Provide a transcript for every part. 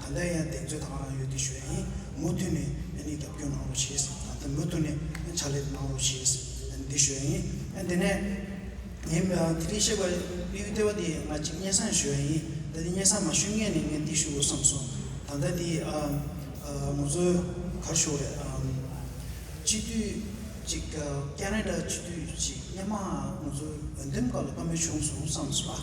ད་ལྟ་ཡང་གདེང་ཚོད་དང་རང་ཡོད་ཀྱི་ཞོལ་ཡིན་མུ་མཐུད་ནས་གནས་སྟབས་བསྐྱོན་གནང་རོགས་བྱེད་ད་ལྟ་མུ་མཐུད་ནས་ཕྱག་ལས་གནང་རོགས་བྱེད་འདི་ཞོལ་ཡིན་དེ་ནས་ངས་དེ་རིང་བཤད་པ་གཡུ་ལྟེ་བ་དེ་ང་གཅིག་སྙན་བཟང་ཞོལ་ཡིན་ད་ལྟ་སྙན་བཟང་མ་ཞུས་ངེས་ནས་ངས་འདི་ཞུ་དགོས་བསམ་སོང་ད་ལྟ་དེ་ངོ་ཚོས་གར་ཞོག་རེད་སྤྱི་འཐུས་གཅིག་ཀྱེ་ནེ་ཏ་སྤྱི་འཐུས་གཅིག་སྙན་མ་ངོ་ཚོས་འོས་འདེམས་སྐབས་ལ་བཀའ་མོལ་བྱུང་སོང་བསམ་སོང་ཨ།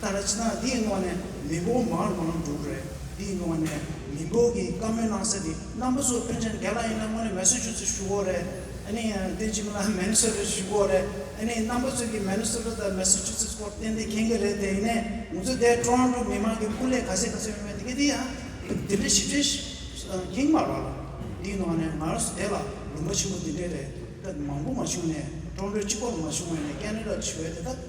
ད་རེས་ན་འདིའི་ངོགས་ནས་མི་འབོ་མར་འགོ་ན་འགྲུག་རེད་འདིའི་ངོགས་ནས་མི་འབོ་གི་བཀའ་མོལ་གནང་ས་དེ་རྣམ་པ་ཚོ་ཕོན་ཆེན་རྒྱ་ལ་ཡིན་ན་དངོས་ནས་མེ་སོ་ཆུ་ཚོད་ཞུ་གོ་རེད་ཨ་ནི་བསྟན་ཆུ་མ་ལ་མེ་ནི་སོ་རེད་ཞུ་གོ་རེད་ཨ་ནི་རྣམ་པ་ཚོས་ཀྱི་མེ་ནི་སོ་ལོ་དང་མེ་སོ་ཆུ་ཚོད་སྐོར་བསྟན་དེ་མཁྱེན་གི་རེད་དེ་ཡིན་ནས་ང་ཚོ་འདས་ཀྲོང་ཀྲུག་མི་མང་གི་སྐུ་ལས་ག་ཚད་ག་ཚད་ཡོང་བའི་འདི་ཡང་དེ་འདྲའི་ཞིབ་ཕྲའི་མཁྱེན་མ་རོགས་འདིའི་ངོགས་ནས་ང་རོས་དེ་ལ་ལུང་པ་ཆེན་པོ་འདི་འདྲའི་རེད་ད་མང་པོ་མ་བྱུང་ནས་ཀྲོང་ཀྲོའི་སྤྱི་ཁོག་ལ་མ་བྱུང་བ་ནས་ཀན་ལི་ལ་བྱི་བའི་དེ་ད།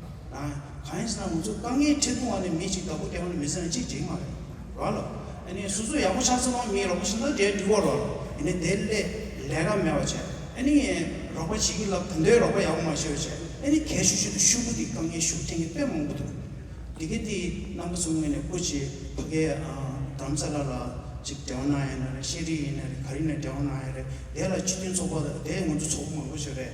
གང་ཡིན་ཟེར་ན་ང་ཚོ་དཀའ་ངལ་ཁྲི་སྟོང་བ་ནས་མི་གཅིག་བདག་པོ་བསྟེན་བ་ནས་མི་ཟེར་ན་གཅིག་འགྲིག་མ་རེད། ར་ལ། ཨ་ནི་སོ་སོ་ཡག་པོ་ཆགས་ཟེར་བ་མིའི་རོགས་པ་བྱེད་ན་དེ་འགྲིག་བ་ར་ལ། ཨ་ནི་དེ་སླད་ལས་ཀ་མེད་བ་བྱས། ཨ་ནི། རོགས་པ་བྱེད་ཀྱི་ལབ་ད་འདོད་རོགས་པ་ཡག་པོ་མ་བྱས་བ་བྱས། ཨ་ནི་གལ་ཤུགས་ཤིག་ཏུ་ཤུགས་པོ་ཏི་དཀའ་ངལ་ཤུགས་ཐེང་གི་དཔེ་མང་པོ་འདུག། འདི་གའི་དེའི་རྣམ་པ་ཚོ་དངོས་ནས་བཀོད་ཆེད་ཕ་གའི་བྲམ་ས་ལ་ལ་ཅིག་འབྲེལ་བ་གནང་ཡ་ན་རེད་ཤེས་རིག་ཡིན་ན་རེད་ག་རེ་ཡིན་ན་འབྲེལ་བ་གནང་ཡ་རེད་དེ་ལ་སྤྱི་མཐུན་ཚོགས་པ་དེ་ང་ཚོ་ཚོགས་པ་མང་པོ་ཞིག་རེད།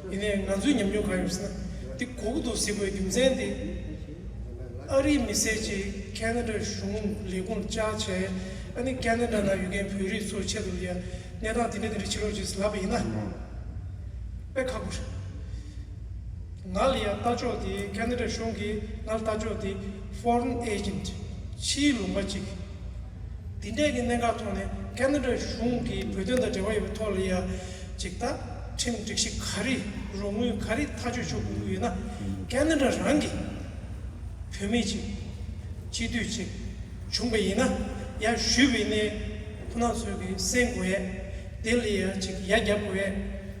ཡིན་ནའི་ང་ཚོའི་ཉམས་མྱོང་གང་ཡོད་ཟེར་ན་འདི་གོ་གི་འདུག་གཟིགས་པའི་རྒྱུ་མཚན་དེ། ཨ་རིའི་མི་སེར་གྱིས་ཀན་ན་ཀྲའི་གཞུང་ལས་ཁུངས་བཅར་བྱས་ཨ་ནི་ཀན་ན་ཀྲ་ན་ཡོད་མཁན་བོད་རིགས་ཚོའི་ཆེད་དུ་ཡང་གནས་སྟངས་དེ་འདྲ་དེ་འདྲ་བྱེད་རོགས་ཞེས་ལབ་པ་ཡིན་ན། དཔེ་ཁག་པོ་རེད། ང་ལ་ཡང་ལྟ་ཕྱོགས་དེ་ཀན་ན་ཀྲའི་གཞུང་གིས་ང་ལ་ལྟ་ཕྱོགས་དེ Foreign Agent ཕྱིའི་ལུང་པ་གཅིག་འདི་འདྲའི་གི་གནད་འགག་ཐོག་ནས་ཀན་ནོ་རའི་གཞུང་གིས་བོད་དོན་དང་འབྲེལ་བ་ཡོད་པའི་ཐོག་ལ་ཡ་ཅིག་ད་ཁྲིམས་སྒྲིག་གཞི་ག་རེ་རུ་དངུལ་ག་རེ་ཐག་གཅོད་ཆོག་གི་ཡོད་ན་ཀན་ནོ་ར་རང་གི་བུད་མེད་ཅིག་སྤྱི་འཐུས་ཅིག་བྱུང་པ་ཡིན་ན་ཡ་ཞུས་པའི་གནས་ཁོ་ན་ཚོས་གི་གསན་དགོས་ཡ་དེ་ལ་ཡ་ཅིག་ཡ་རྒྱབ་དགོས་ཡ།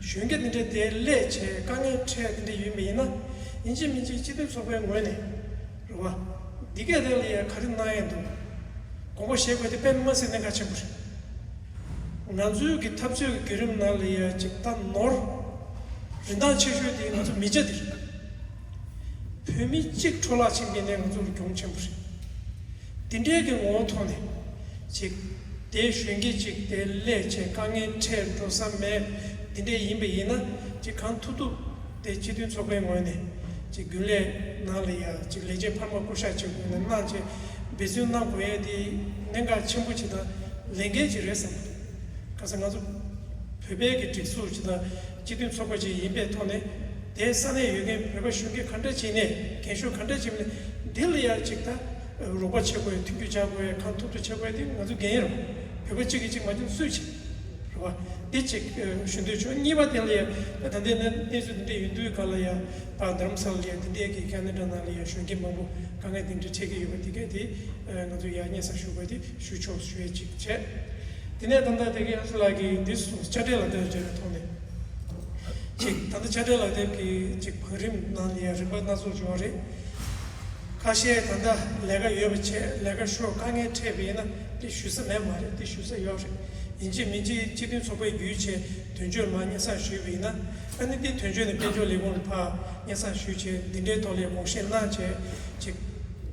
གཞོན་སྐྱེས་འདི་འདྲས་དེ་སླད་བྱས་དཀའ་ངལ་འཕྲད་འདི་འདྲས་ཡོད་མི་ཡིན་ན། ཡིན་གཅིག་མིན་གཅིག་སྤྱི་འཐུས་ཚོགས་པའི་ངོས་ནས། རེད་བ། འདི་སྐད་དེ་ལ་ཡང་ག་རེ་གནང་ཡས་འདུག། དགོངས་པ་བཞེས་དགོས་དེ་པད་མ་སེར་སྣས་ག་ཆེན་པོ་རེད། ང་ཚོའི་གི་འཐབ་རྩོད་ཀྱི་བརྒྱུད་རིམ་ནང་ལ་ཡང་གཅིག་ད་ནོར། རིན་ཐང་ཆེ་ཤོས་དེ་ང་ཚོ་མི་རྒྱ་འདི་རེད། བོད་མི་གཅིག་འཕྲོ་བརླག་ཕྱིན་དེ་ནས་ང་ཚོ་ལ་གྱོང་ཆེན་པོ་རེད། འདི་འབྲེལ་གྱི་ངོ་བོ་མཐོང་ནས། ཅིག། དེའི་གཞོན་སྐྱེས་ཅིག་དེ་སླད་ཆད་དཀའ་ངལ་འཕྲད་འགྲོ་ས་མེད། འདི་འདྲའི་ཡིན་པ་ཡིན་ན་ཅིག་གང་ཐུབ་ཐུབ་དེ་སྤྱི་མཐུན་ཚོགས་པའི་ངོས་ནས། ཅིག་རྒྱུན་ལས་ནང་ལ་ཡ་ཅིག་ལས་བྱེད་འཕར་མ་སྐུ་ཞག་བཅས་དགོས་ན་གནང་ཆེད་འབད་བརྩོན་གནང་དགོས་ཡས་དེ་གནད་འགག་ཆེན་པོ་ཅིག་དང་ལས་འགན་ཅིག་རེད་བསམ་པ་འདུག་ག་ས་ང་ཚོ་བོད་པའི་གི་སྒྲིག་འཛུགས་ཅིག་དང། སྤྱི་མཐུན་ཚོགས་པ་ཞིག་ཡིན་པའི་ཐོག་ནས་དེའི་ས་གནས་ཡོད་མཁན་བོད་པ་གཞོན་སྐྱེས་ག་འདྲ་བྱས་ནས་རྒན་གཞོན་ག་འདྲ་བྱས་ནས་འདི་ལ་ཡར་ཅིག་ཐ་རུག་པ་བྱེད་དགོས་མཐུན་འགྱུར་བྱ་དགོས་གང་ཐུབ་ཐུབ་བྱེད་དགོས་དེ་ང་ཚོ་རྒན་ཡོལ་བོད་པ་གཅིག་གིས་གཅིག་མ་འགྱོངས་སུས་བྱེད་རེད་བ། འདི་གཅིག་ཞུ་འདོད་བྱུང་གཉིས་པ་དེ་ལ་ཡར་ད་ལྟའི་གནས་ཚུལ་འདི་འདྲ་ཡིན་དུས་ག་ལ་ཡར་བར་དྷརྨ་སཱ་ལ་ལ་ཡར་འདི་འདྲའི་གི་ག་ནི་འདྲ་ནང་ལ་ཡར་གཞོན་སྐྱེས་མང་པོ་དཀའ་ངལ་འདི་འདྲ་འཕྲད་ཀྱི་ཡོད་པ་དེ་ག་དེ་ང་ཚོ་ཡར་སྙན་སར་ཞུ་དགོས་དེ། ཁྲུས་ཆོག་ཤོད་ཅིག་བྱས། དེ་ནས་ད་ལྟ་དེ་གའི་ཨ་ཕྲུག་ལགས་ཀྱིས་འདི་སོ་ཆ་འགྲེལ་ལག་དེབ་རེ་རེ་ཐོག་ནས་ཅིག་ད་ལྟ་ཆ་འགྲེལ་ལག་དེབ་ཀྱིས་ཅིག་བོད་རིམ་ནང་ནས་རིག་པ་སྣ་ཚོགས་འབྱོར་བ་རེད། ཁ་ཤས་ད་ལྟ་ལས་ཀ་ཡོད་པ་བྱས་ལས་ཀ་ཤོར་དཀའ་ངལ་འཕྲད་པ་ཡིན་ན་དེ་ཞུས་ས་མེད་མ་རེད་དེ་ཞུས་ས་ཡོད་རེད་ཡིན་གཅིག་མིན་གཅིག་སྤྱི་མཐུན་ཚོགས་པའི་རྒྱུའི་ཆེད་དོན་བཅོས་མ་སྙན་སང་ཞུས་པ་ཡིན་ན་ཨ་ནི་དེ་དོན་བཅོས་ནས་དཔལ་འབྱོར་ལས་ཁུངས་ལ་ཕ་སྙན་སང་ཞུས་བྱས་འདི་འདྲའི་ཐོག་ལས་དགོངས་བཞེས་གནང་བྱས་ཅིག།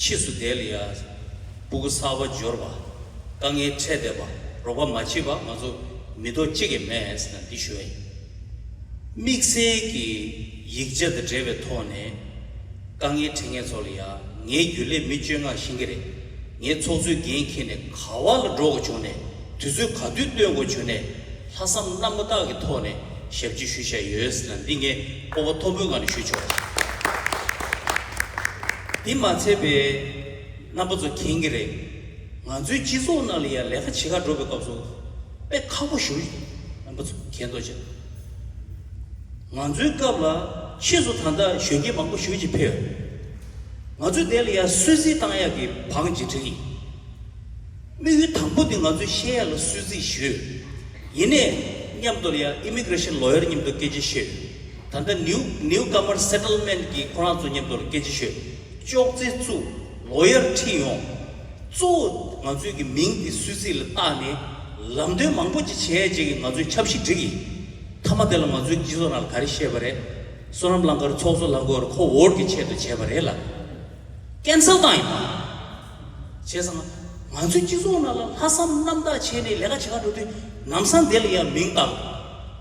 ཕྱིས་སུ་དེ་ལ་ཡང་སྤུ་གུ་སར་བ་སྦྱོར་བ། དཀའ་ངལ་འཕྲད་བསྡད་པ་རོགས་པ་མ་མཆིས་པ་ང་ཚོ་མི་ཐོག་གཅིག་གི་མས་ན་འདི་ཞོལ་ཡིན། དམིགས་བསལ་གྱི་ཡིག་ཆ་དང་འབྲེལ་བའི་ཐོག་ནས། དཀའ་ངལ་འཕྲད་མཁན་ཚོ་ལ་ཡང་ངས་རྒྱུན་ལས་མི་སྤྱོད་ངག་བཞིན་གྱི་རེད། ངས་ཚོགས་གཙོའི་འགན་འཁྱེར་ནས་ག་བ་ལ་འགྲོ་དགོས་བྱུང་ནས་དུས་ཚོད་ག་དུས་སྟོན་དགོས་བྱུང་ནས། ལྷག་བསམ་རྣམ་པ་དག་གི་ཐོག་ནས་ཞབས་ཕྱི་ཞུ་བཞག་ཡོད་ཟེར་ན་འདི་ངས་སྤོབས་པ་མཐོ་པོའི་ངང་ནས་ཞུ་ཆོག། དེ་མ་ཚད་པའི་རྣམ་པ་ཚོ་མཁྱེན་གྱི་རེད། ང་ཚོའི་སྤྱི་ཚོགས་ནང་ལ་ཡང་ལས་ཀ་བྱེད་ཁག་འགྲོ་བའི་སྐབས་སུ་དཔེ་ཁག་པོ་ཞུ་རྣམ་པ་ཚོ་མཁྱེན་རྟོགས་བྱེད་དགོས། ང་ཚོའི་སྐབས་ལ་ཕྱིས་སུ་ད་ལྟ་གཞོན་སྐྱེས་མང་པོ་ཞུ་བྱེད་ཕེབས་ཡོད། ང་ཚོས་དེ་ལ་ཡང་སུད་སི་གཏང་ཡག་གི་བང་ཇི་བྲིས། དམིགས་ཡུལ་དང་པོ་དེ་ང་ཚོའི་ཤེས་ཡ་ལ་གསོལ་ཚིགས་ཞུ། ཡིན་ནས་མཉམ་དུ་ལ་ཡ Immigration Lawyer མཉམ་དུ་སྐད་ཆ་ཤོད། ད་ལྟ New New Comer Settlement གི་ཁོ་རང་ཚོ་མཉམ་དུ་ལ་སྐད་ཆ་ཤོད། ཅོག་ཙེ་བཙུགས Lawyer ཁྲིད་ཡོང། གཙོ་བོ་ང་ཚོའི་གི་མིང་དེ་གསོལ་ཚིགས་ལ་བཏགས་ནས་ལམ་སྟོན་མང་པོ་ཅིག་བྱས་རྗེས་ཀྱི་ང་ཚོའི་ཆབ་སྲིད་འགྲིག་ཡིན། མཐའ་མ་དེ་ལ་ང་ཚོའི་སྤྱི་ཚོགས་ནང་ལ་ག་རེ་བཤད་པ་རེད། བསོད་ནམས་གླང་དཀར་ཚོགས་གཙོ་ལྷ་འགོ་ཡར་ཁོ་བོར་གྱི་ཆེད་དུ་བྱས་པ་རེད་ལ། Cancel བཏང་ཡོད། བྱས་ཙང། ང་ཚོའི་སྤྱི་ཚོགས་ནང་ལ་ལྷག་བསམ་རྣམ་དག་བྱས་ནས་ལས་ཀ་བྱེད་ཁ་འགྲོ་དུས་ནམ་སང་དེ་ལ་ཡང་མིང་བཏགས་ལ།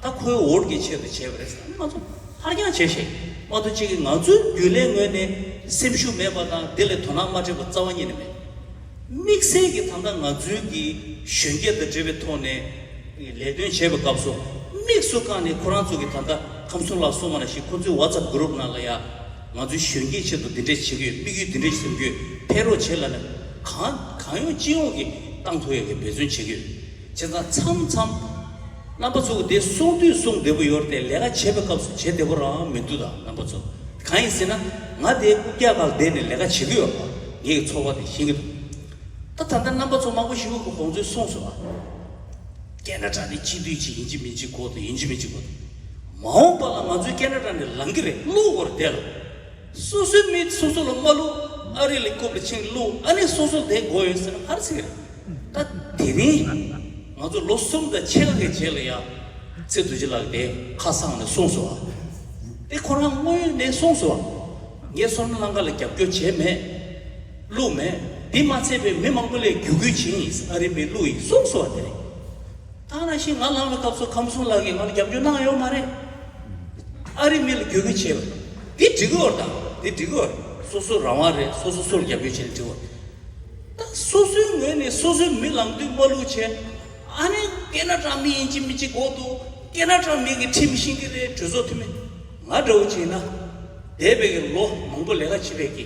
ད་ཁོའི་འོར་གྱི་ཆེད་དུ་བྱས་པ་རེད་བསམ་ནས་ང་ཚོ་ཕར་འགྱངས་བྱས་ཤིང། མ་འདུག་ཅིག་གིས་ང་ཚོའི་རྒྱུན་ལས་ངོས་ནས་སེམས་ཤུགས་མེད་པ་དང་དེ་ལས་དོ་སྣང་མ་སྤྲད་པར་རྩ་བ་ཉིད་ནས་མེད། དམིགས་བསལ་གྱིས་ད་ལྟ་ང་ཚོའི་གི་གཞོན་སྐྱེས་དང་འབྲེལ་བའི་ཐོག་ནས་ལས་དོན་བྱེད་པའི་སྐབས་སུ་དམིགས་སུ་བཀང་ནས་ཁོ་རང་ཚོ་གིས་ད་ལྟ་ཁམས་གསུམ་ལ་སོང་བ་ན་ཞིག་ཁོ་ཚོའི WhatsApp Group ནང་ལ་ཡང། ང་ཚོའི་གཞོན་སྐྱེས་ཆེད་དུ་འདི་འདྲས་བྱེད་ཀྱི་ཡོད་དམིགས་ཡུལ་འདི་འདྲས་སེམས་རྒྱུད་འཕེལ་རོགས་བྱེད་ལ་ནས་གང་གང་ཡོང་ཅི་ཡོང་གི་ཏང་ཐོ་ཡོད་ཀྱི་འབད་བརྩོན་བྱེད་ཀྱི་ཡོད་བྱས་ཙང་མཚམས་མཚམས་རྣམ་པ་ཚོ་དེ་གསུང་དུས་གསུང་བདེ་པོ་ཡོད་རེད་ལས་ཀ་བྱེད་པའི་སྐབས་སུ་བྱེད་བདེ་པོ་རང་མི་འདུག་ད་རྣམ་པ་ཚོ་གང་ཡིན་ཟེར་ན་ང་དེ་སྐུ་སྐྱ་ཁག་བསྡད་ནས་ལས་ཀ་བྱེད་ཀྱི་ཡོད་པ་ངེད་ཀྱི་ཚོགས་པ་དེ་ཤེས་ཀྱི་འདུག་ད་ད་ལྟ་རྣམ་པ་ཚོ་མང་པོ་ཞིག་ཁོང་ཚོས་གསུངས་སོང་བ་རྒན་གྲྭ་གྲྭ་ནི་སྤྱི་འཐུས་ཅིག་ཡིན་གྱི་མིན་གཅིག་གོ་ཡིན་གྱི་མིན་གཅིག་གོ། མ་འོངས་པ་ལ་ང་ཚོའི་ཀེ་ན་ར་ནས་ལང་གི་རེད་གླུ་བོར་བསྡད་ལ། སོ་སོའི་མི་སོ་སོ་ལ་སྨྲ་གླུ་ཨ་རི་ལི་ཀོབ་ལི་ཆིང་གི་གླུ་ཨ་ནི་སོ་སོ་དེ་གོ་ཡོད་ཟེར་ན་ཧར་ཚིག་རེད། ད་དེ་རིང་ང་ཚོ་ལོ་གསུམ་དང་ཕྱེད་ཀ་གི་རྗེས་ལ་ཡང་ཚེ་རྡོ་རྗེ་ལགས་དེ་ཁ་བསང་ནས་གསུངས་སོ། དེ་ཁོ་རང་དངོས་ཡོད་ནས་གསུངས་སོ། ངས་སོ་ན་ལང་ཀ་ལ་རྒྱབ་སྐྱོར་བྱས་མེད། གླུ་མེད། དེ་མ་ཚད་པའི་མི་མང་པོ་ལས་རྒྱུ་གུས་བྱིན་ཡིས་ཨ་རི་པའི་གླུ་ཡིས་གསུངས་སོ་བ་དེ་རེད། ཐང་ར་ཞིག་ང་ལངས་པའི་སྐབས་སུ་ཁམས་གསུམ་ལགས་ཀྱིས་ང་ལ་རྒྱབ་སྐྱོར་གནང་ཡོད་མ་རེད། ཨ་རིའི་མི་ལ་རྒྱུས་ལོན་བྱས་པ། འདི་འགྲིག་གི་འོ་དང། འདི་འགྲིག་གི་འོ། སོ་སོའི་རང་དབང་རེད་སོ་སོ་སོ་ལ་རྒྱབ་སྐྱོར་བྱས་ན་འགྲིག་གི་འོ། ད་སོ་སོའི་ངོས་ནས་སོ་སོའི་མི་ལངས་དུས་སྨ་ལུག་བྱས། ཨ་ནི་ཀེ་ན་ཀྲ་མི་ཡིན་གཅིག་མི་གཅིག་གོ་འདུག་ཀེ་ན་ཀྲ་མི་གི་ཁྲིམས་ཤིང་གི་རེད་གྲོས་ཚོགས་འཐུས་མི་ང་འདྲ་བོ་བྱས་ན། འདས་པའི་གི་ལོ་མང་པོ་ལས་ཀ་བྱེད་པའི་གི།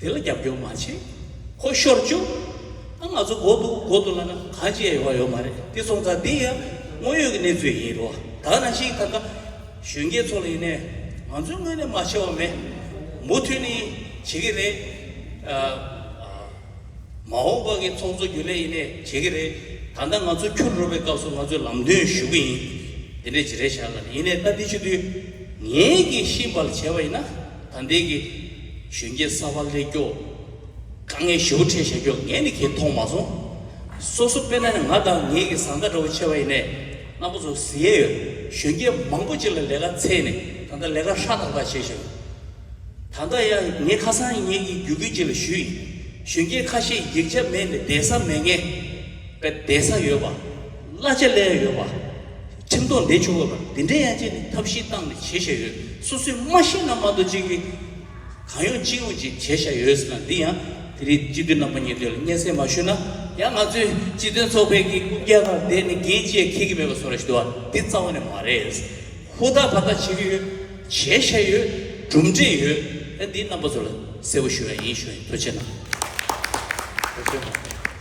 དེ་ལ་རྒྱབ་སྐྱོར་མ་བྱེད། ཁོ་ཤོར་བཅུག། ཨ་ང་ཚོ་འགོ་འདུག་འགོ་འདུག་ལབ་ན་ག་ཅི་ཡང་ཡོང་བ་ཡོད་མ་རེད་དེ་སོང་ཙང་དེ་ཡང་དངོས་ཡོད་ཀྱི་གནས་ཚུལ་ཡིན་རུང་ད་ནང་བཞིན་ད་ལྟ་གཞོན་སྐྱེས་ཚོ་ལ་ཡིན་ནའི་ང་ཚོའི་དངོས་གནས་མ་ཆེ་བ་མེད་མུ་མཐུད་ནས་བྱེད་ཀྱི་རེད། མ་འོངས་པ་གི་ཚོགས་གཙོ་རྒྱུན་ལས་ཡིན་ནའི་བྱེད་ཀྱི་རེད། ད་ལྟ་ང་ཚོ་འཁྱུར་འགྲོ་བའི་སྐབས་སུ་ང་ཚོས་ལམ་སྟོན་ཞུ་གི་ཡིན། དེ་འདྲའི་བྱེད་རེ་བྱ་ལབ་ཡིན་ནའི་ལྟ་འདི་ཆུ་དུས་ངན་གྱི་ཤིང་བལ་བྱས་པ་ཡིན་ན། དང་ལྡན་གྱི། གཞོན་སྐྱེས་གསར་པ་ལེགས་སྐྱོ། དཀའ་ངལ་ཞེ་བོ་འཕྲད་བྱ་རྒྱུ་ངས་ནི་ཁྱེད་མཐོང་མ་སོང། སོ་སོ་དཔེར་ན་ནི་ང་དང་ངེད་ཀྱི་བཟའ་ཟླ་འདྲ་བོ་ཆེ་བ་ཡིན་ནས་སྣ་མོ་ཚོ་ཟི་ཡས་ཡོད། གཞོན་སྐྱེས་མང་པོ་ཅིག་ལ་ལས་ཀ་ཚེས་ནས་ད་ལྟ་ལས་ཀ་ཧྲ་ཐག་ཐག་བྱེད་བཞིན་ཡོད། ད་ལྟ་ཡང་ངས་ཁ་སང་ངེད་ཀྱི་རྒྱུགས་ཁྱི་ཅིག་ལ་ཞུས་ཡིན། གཞོན་སྐྱེས་ཁ་ཤས་ཡིག་ཆ་མེད་ནས་བསྡད་ས་མེད་ངེས། བསྡད་ས་ཡོད་པ། གླ་ཆ་ལས་ཡོད་པ། ཁྲིམས་རྡོག་འདེད་ཆོག་གོ། འདི་འདྲའི་ཡ་ཆེན་ནི་ཐབས་ཤེས་སྟངས་ནས་བྱེད་བཞག་ཡོད། སོ་སོས་མ་ཤེས་ན་མ་རྡོ་གཅིག་གིས། གང་ཡོང་ཅི་ཡོང་ཅིག་བྱེད་བཞག་ཡོད་ཟེར་ན་འདི་ཡང་དེ་རིགས་སྤྱི་འཐུས་རྣམ་པ་གཉིས་དོན་ལ་སྙན་སེང་མ་ཞུས་ན། ཡང་ང་ཚོའི་སྤྱི་དོན་ཚོགས་པའི་གི་ཀུན་རྒྱལ་ཁར་བསྡད་ནས་རྒན་བཅས་མཁས་ཀྱི་མེད་པ་སོགས་རེ་ཞིག་འདུག་བ་འདི་རྩ་བ་ནས་མ་རེད། ཧུར་ཐག་བར་ཐག་བྱེད་ཀྱི་ཡོད། བྱེད་བཞག་ཡོད། གྲུབ་འབྲས་ཡོད། ཡང་འདིའི་རྣམ་པ་ཚོ་ལ་གསལ་བོ་ཞུ་ཡ་ཡིན་ཞུ་ཡ་ཡིན་ཐུགས་ཆེ་གནང།